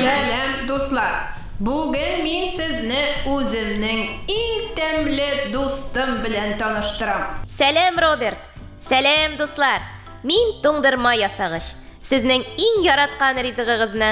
Сәлам дуслар! Бүген мин сезне үземнең иң тәмле дустым белән таныштырам. Сәлам Роберт! Сәлам дуслар! Мин туңдырма ясагыч! Сезнең иң яраткан ризыгыгызны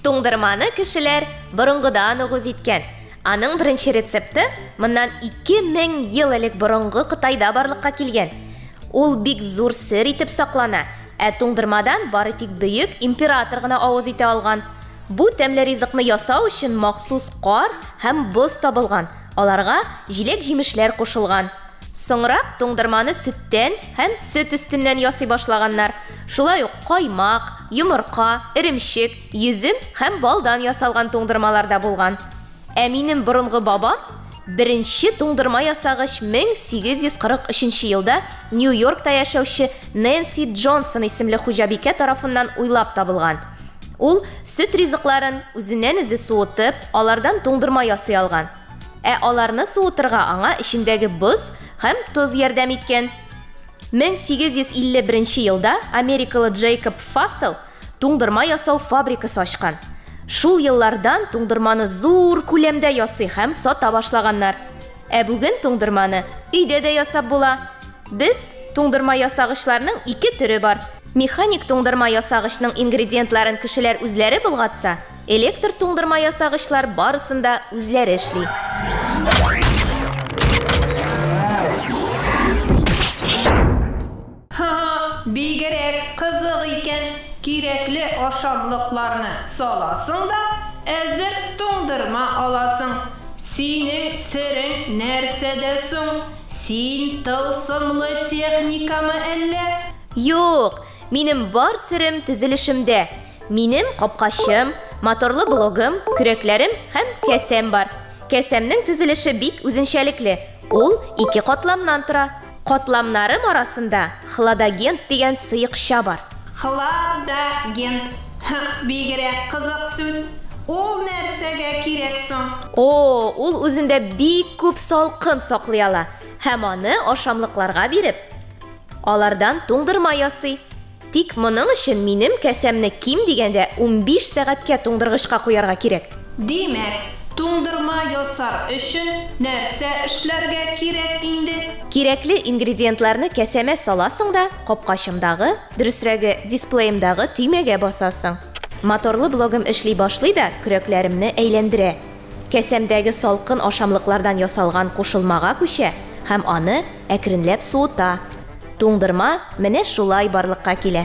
Туңдырманы кешеләр борынгыдан ук үз иткән. Аның беренче рецепты моннан ике мең ел элек борынгы Кытайда барлыкка килгән. Ул бик зур сер итеп саклана, ә туңдырмадан бары тик бөек император гына авыз итә алган. Бу тәмле ризыкны ясау өчен махсус кар һәм боз табылган, аларга җиләк-җимешләр кушылган. Соңрак туңдырманы сөттән һәм сөт өстеннән ясый башлаганнар. Шулай ук каймак, йомырка, эремчек, йөзем һәм балдан ясалган туңдырмалар да булган. Ә минем борынгы бабам беренче туңдырма ясагач 1843 елда Нью-Йоркта яшәүче Нэнси Джонсон исемле хуҗабикә тарафыннан уйлап табылган. Ул сөт ризыкларын үзеннән-үзе суытып, алардан туңдырма ясый алган. Ә аларны суытырга аңа эчендәге боз һәм тоз ярдәм иткән. 1851 елда америкалы Джейкоб Фассел туңдырма ясау фабрикасы ачкан. Шул еллардан туңдырманы зур күләмдә ясый һәм сата башлаганнар. Ә бүген туңдырманы өйдә дә ясап була. Без туңдырма ясагычларның ике төре бар. Механик туңдырма ясагычның ингредиентларын кешеләр үзләре болгатса, Электр туңдырма ясагычлар барысын да үзләре эшли. Ха-ха, бигрәк кызык икән, кирәкле ашамлыкларны саласың да, әзер туңдырма аласың. Синең серең нәрсәдә соң? Син тылсымлы техникамы әллә? Юк, Минем бар серем төзелешемдә. Минем капкачым, моторлы блогым, көрәкләрем һәм кәсәм бар. Кәсәмнең төзелеше бик үзенчәлекле. Ул ике катламнан тора. Катламнарым арасында хладагент дигән сыекча бар. Хладагент. Һы, бигрәк кызык сүз. Ул нәрсәгә кирәк соң? О, ул үзендә бик күп салкын саклый ала һәм аны ашамлыкларга биреп, Алардан туңдырма ясый. Тик моның өчен минем касәмне ким дигәндә унбиш сәгатькә туңдыргычка куярга кирәк. Димәк, туңдырма ясар өчен нәрсә эшләргә кирәк инде? Кирәкле ингредиентларны касәмә саласың да, капкачымдагы, дөресрәге, дисплеемдагы төймәгә басасың. Моторлы блогым эшли башлый да көрәкләремне әйләндерә. Касәмдәге салкын ашамлыклардан ясалган кушылмага күчә һәм аны, әкренләп суыта. Туңдырма менә шулай барлыкка килә.